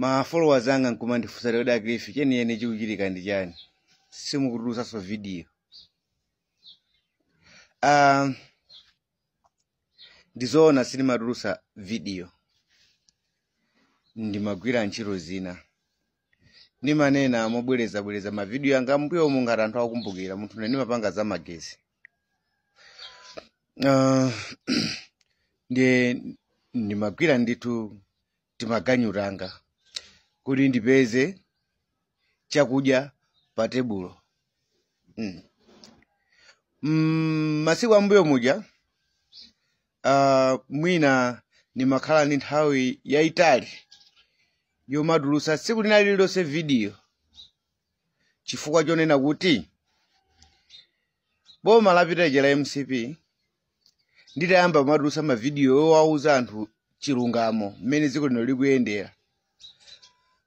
ma followers anga nkumandifunsa lero dakilifi chenicheni chikuchitika ndi chani simukutulusanso video um, ndizoona sindimatulusa video ndimagwira ntchito zina ndimanena mobwerezabwereza mavidiyo anga mbuyo umu ngati anthu akumbukira munthu ne ndimapanga za magesi Ah, ndiye ndimagwira ndithu timaganyu tanga kuti ndipeze chakudya pa tebulo mm, masiku ambuyo muja ah, mwina ndimakhala ndi nthawi yayitali yomatulusa tsiku lina lililonse vidiyo chifukwa chonena kuti boma lapitali la mcp nditayamba kumatulutsa mavidiyo yowauza anthu chilungamo mmene dziko lino likuyendera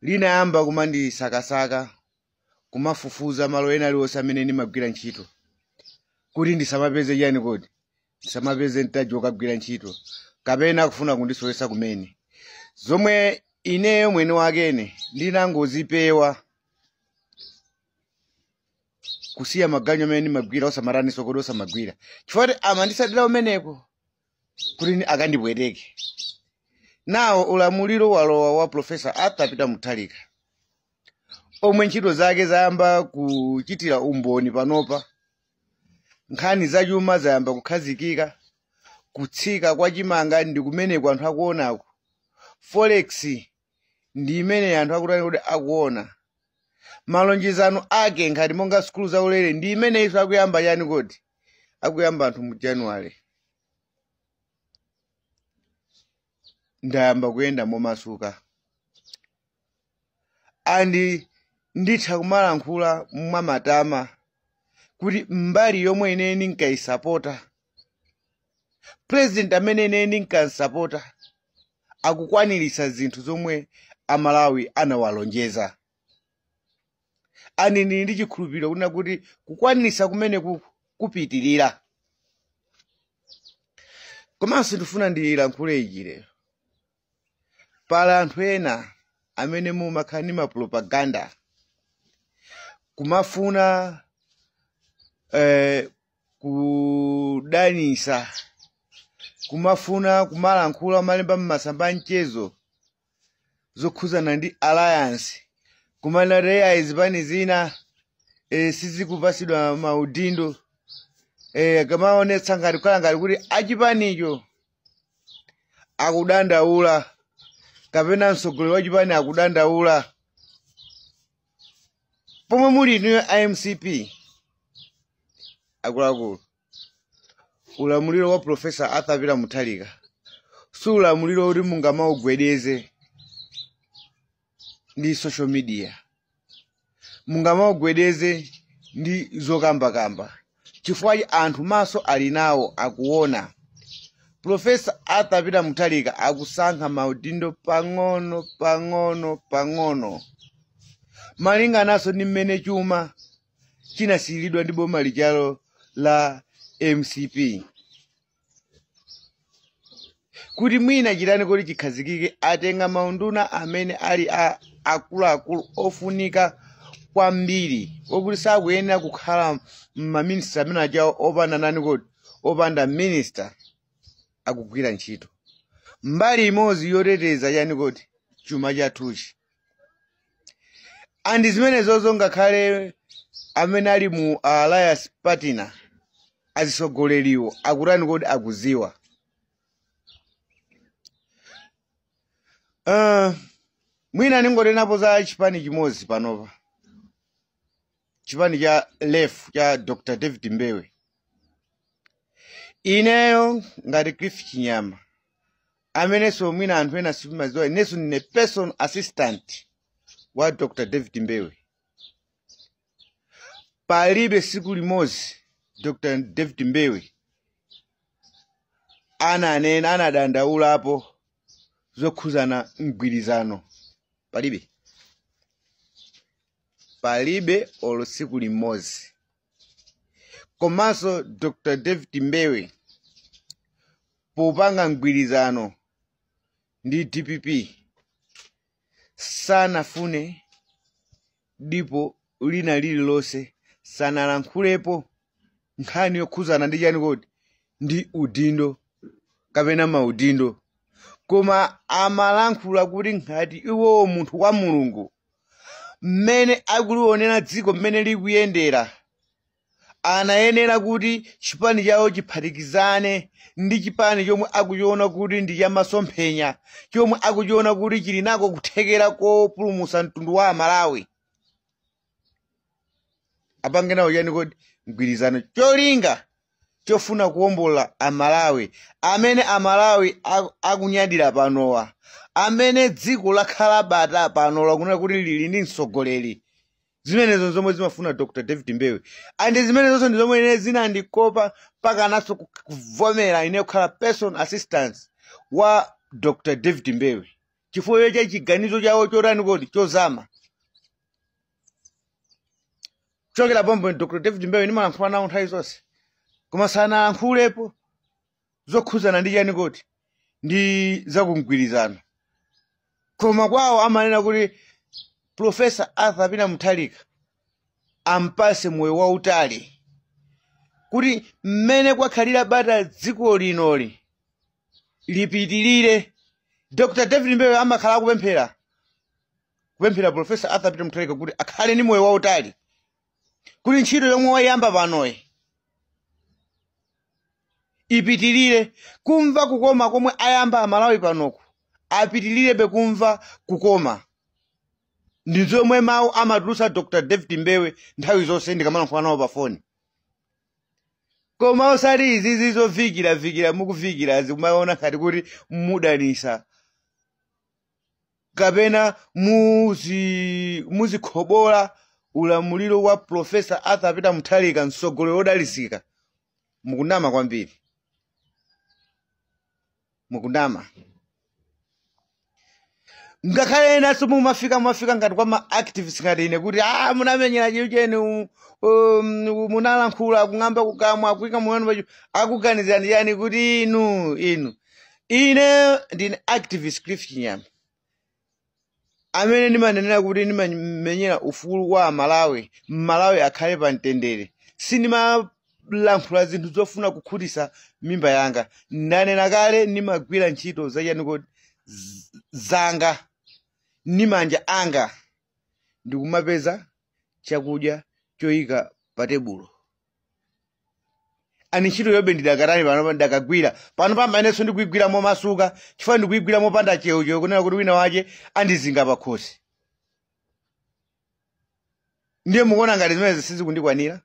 linayamba kumandisakasaka kumafufuza malo ena aliwonse amene ndimagwira ntchito kuti ndisamapeze chani kodi ndisamapeze mtaji wokagwira ntchito kapena kufuna kundisowesa kumene zomwe ineyo mwene wakene ndinangozipewa kusiya maganyu amene ndimagwira osamataninso kodi osamagwira chifukwa kuti amandisatira kumeneko kuti akandipweteke nawo ulamuliro walowa wa profesa arthur peter mutharika omwe ntchito zake zayamba kuchitira umboni panopa nkhani zachuma zayamba kukhazikika kutsika kwa chimanga ndi kumeneko anthu akuonako forex ndi imeneyi anthu akutani kodi akuona malonjezano ake ngati monga sukulu zaulere ndi imeneyi akuyamba chani kodi akuyamba anthu mu january ndayamba kuyenda momasuka and nditha kumalankhula mwamatama kuti mbali yomwe ine ndinkayisapota president amene ine ndinkamusapota akukwaniritsa zinthu zomwe amalawi anawalonjeza and ndili ndi chikhulupiriro kunena kuti kukwaniritsa kumeneku kupitirira komanso ndifuna ndilankhule ichi lero pali anthu ena amene mumakhala ndi mapropaganda kumafuna eh, kudanisa kumafuna kumalankhula kumalemba m'masamba a mchezo zokhuzana ndi alliance kumanena eya zipani zina eh, sizikupasidwa maudindo eh, kumaonetsa ngati kukhala ngati kuti achipanicho akudandaula kapena mtsogoleri wa chipani akudandaula pomwe muli inuyo a mcp akuluakulu ulamuliro wa profesa arthur peter mutharika si ulamuliro oti mungamaugwedeze ndi social media mungamaugwedeze ndi zokambakamba chifukwa chi- anthu maso ali nawo akuona profesa arthur peter mutharika akusankha maudindo pang'ono pang'ono pang'ono malingananso ndi mmene chuma chinasiyiridwa ndi boma lijalo la mcp kuti mwina chitani kuti chikhazikike atenga maunduna amene ali akuluakulu ofunika kwambiri okuti sakuyenera kukhala maminista amene ajawo opanda nani kodi opanda minista akugwira ntchito mbali imodzi yoteteza chani kodi chuma chathuchi andi zimenezozo ngakhale amene ali mu alliance partner azitsogoleriwo akutani kodi akuziwa uh, mwina ndingotengapo za chipani chimodzi panopa chipani cha lef cha dr david mbewe ineyo ngati cliff chinyama amenenso mwina anthu ena simadziwa inenso ndine personal assistant wa dr david mbewe palibe siku limodzi dr david mbewe ananena anadandaulapo zokhuzana mgwirizano palibe palibe olo siku limodzi komanso dr david mbewe popanga mgwirizano ndi dpp sanafune dipo lina lililonse sanalankhulepo nkhani yokhuzana ndi chani kodi ndi udindo kapena maudindo koma amalankhula kuti ngati iwowo munthu wa mulungu mmene akuliwonera dziko mmene likuyendera anayenera kuti chipani chawo chiphatikizane ndi chipani chomwe akuchiona kuti ndi chamasomphenya chomwe akuchiona kuti chili nako kuthekera kopulumutsa mtundu wa amalawi apange nawo chani kodi mgwirizano cholinga chofuna kuwombola amalawi amene amalawi aku- akunyadira panowa amene dziko lakhala bata pano lakunena kuti lili ndi mtsogoleri zimenezo zomwe zimafuna dr david mbewe and zimenezonso ndi zomwe ine zinandikopa mpaka naso ku- kuvomera ine kukhala personal assistant wa dr david mbewe chifukwa cha chiganizo chawo chotani kodi chozama kuchokera pompo ndi dr david mbewe ndimalankhula nawo nthawi zonse koma sanayankhulepo zokhuzana ndi chani kodi ndi zakumgwirizano koma kwawo amanena kuti profesa arthur peter mutharika ampatse moyo wautali kuti mmene kwakhalira bata dziko linoli lipitirire dr david mbewe amakhala akupemphera kupemphera Profesa Arthur Peter Mutharika kuti akhale ndi moyo wautali kuti ntchito yomwe wayamba panoyi ipitirire kumva kukoma komwe ayamba amalawi panoku apitirirebe kumva kukoma ndi zomwe mawu amatulutsa dr david mbewe nthawi zonse ndikamalankhula nawo pafoni koma osati izizi zovikiravikira mukuvikirazi kumaona ngati kuti mudanisa kapena muzi- muzikhomola ulamuliro wa profesa arthur peter mutharika mtsogoleri wodalitsika mukunama kwambiri mukunama ngakhale enanso mumafika mumafika ngati kwa ma activists ngati ine kuti a munamenyera chiyo cheni u- um, u- munalankhula kung'amba kukamwa kuika mwana pacho akuganizireni chani kuti inu inu ine ndine activist cliff chinyama amene ndimanenera kuti ndimamenyera ufulu wa amalawi mmalawi akhale pa mtendere sindimalankhula zinthu zofuna kukhutitsa mimba yanga ndanena kale ndimagwira ntchito zachani kodi zanga ndi manja anga ndikumapeza chakudya choyika pa tebulo and ntchitoyobe ndidakatani pano ndakagwira pano pambanenso ndikuigwira momasuka chifukwa ndikuigwira mopanda cheucheu kunena kuti wina wache andizinga pakhosi ndiye mukuona ngati zimenezi sizikundikwanira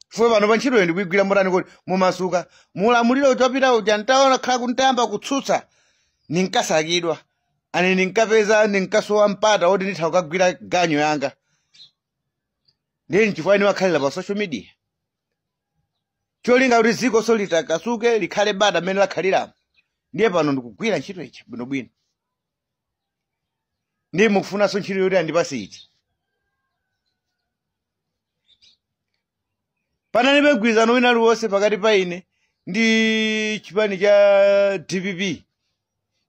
fwe pano pa ntchitoyo ndikuigwira motani kodi momasuka mulamuliro utapita uja ntaona khala kuti ntayamba kutsutsa ndinkasakidwa and ndinkapeza ndinkasowa mpata woti nditha kukagwira ganyo yanga ndiye nchifukwa nimakhalira pa social media cholinga kuti dziko so litakasuke likhale bata mmene lakhaliramo ndiye pano ndikugwira ntchito iti bwinobwino ndiye mukufunanso ntchito yoti andipase iti panalibe mgwirizano wina uliwonse pakati pa ine ndi chipani cha dpp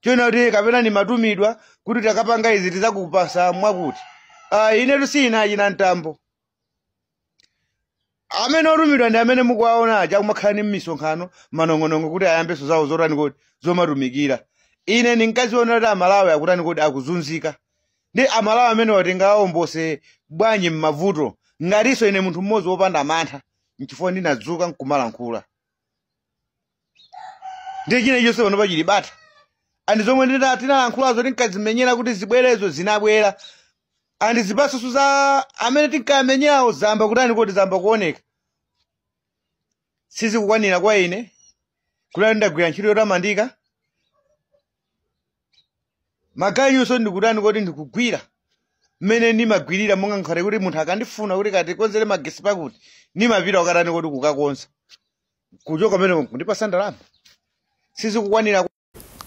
chonena kuti kapena ndimatumidwa kuti takapanga izi tizakupasa mwakuti ah, inetu si achina mtambo amene otumidwa ndi amene mukuwaona aja akumakhala m'misonkhano manong'onong'o kuti ayambenso zawo zotani kodi zomatumikira ine ndinkaziona kuti amalawi akutani kodi akuzunzika ndi amalawi amenewa tingawaombole bwanji m'mavuto ngatinso ine munthu mmodzi wopanda mantha nchifukwa ndinadzuka nkumalankhula ndiye china chonse pano pachili bata andi zomwe tinalankhulazo tinkazimenyera kuti zibwerezo zinabwera andi zipatso za amene tinkamenyerawo zamba kutani kodi zamba kuoneka sizikukwanira kwa ine kuti ndagwira ntchito yotamandika maganyunso ndikutani kodi ndikugwira mmene ndimagwirira mwa kale kuti munthu akandifuna kuti katikonzere magesi pakuti ndimapita kukatani kodi kukakonza kuchoka pamenepo kundipasa ndalama sizikukwanira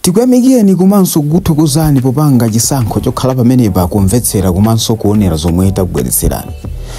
tikuyamikireni komanso kukuthokozani popanga chisankho chokhala pamenepa kumvetsera komanso kuonera zomwe takubweretserani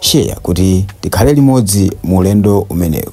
share kuti tikhale limodzi mu ulendo umenewu.